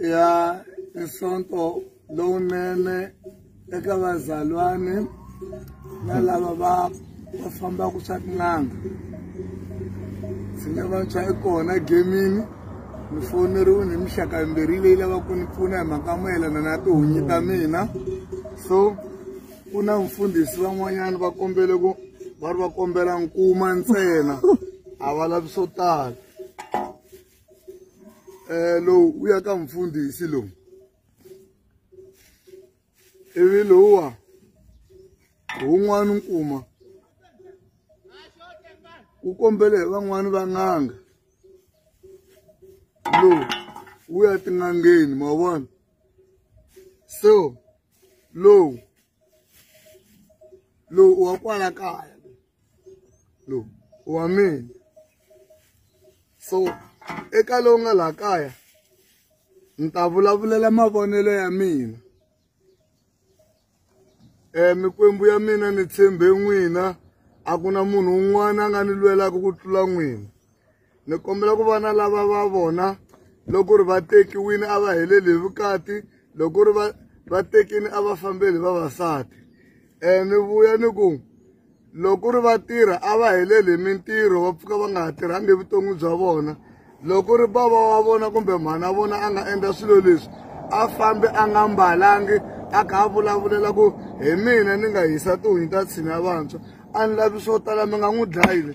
ya isonto lowunene eka vazalwane na lava va va fambaka swa tin'anga ndzi nga va tshwa i kona gemini ni foneriwe ni mixaka yimbirhi leyi lavaka ku ni pfuna hi mhaka mayelana na tihunyi ta mina so ku na mfundhisi van'wanyana va kombele ku va ri va kombela nkuma ntsena a va lavi swo tala eh, lowu wu ya ka mfundhisi lowu ivi lowuwa wun'wana nkuma wu kombele hi van'wani va n'anga lowu wu ya tin'angeni ma vona so lowu lowu u wa kwala kaya lowu u wa mina so eka lowu nga laha kaya ni ta vulavulela mavonelo ya mina um mikwembu ya mina ni tshembe n'wina a ku na munhu un'wana a nga ni lwelaka ku tlula n'wina ni kombela ku vana lava va vona loko ri va tekiwini a va heleli hi vukati loko ri va va tekini a va fambeli vavasati um ni vuya ni ku loko ri va tirha a va heleli hi mintirho va pfuka va nga ha tirhangi evuton'wi bya vona loko ri bava wa vona kumbe mhana vona a nga endla swilo leswi a fambi a nga mbalangi a kha a vulavulela ku hi mina ni nga hisa tihunyi ta tshina vantshwa a ni lavi swo tala mi nga n'wi dlayile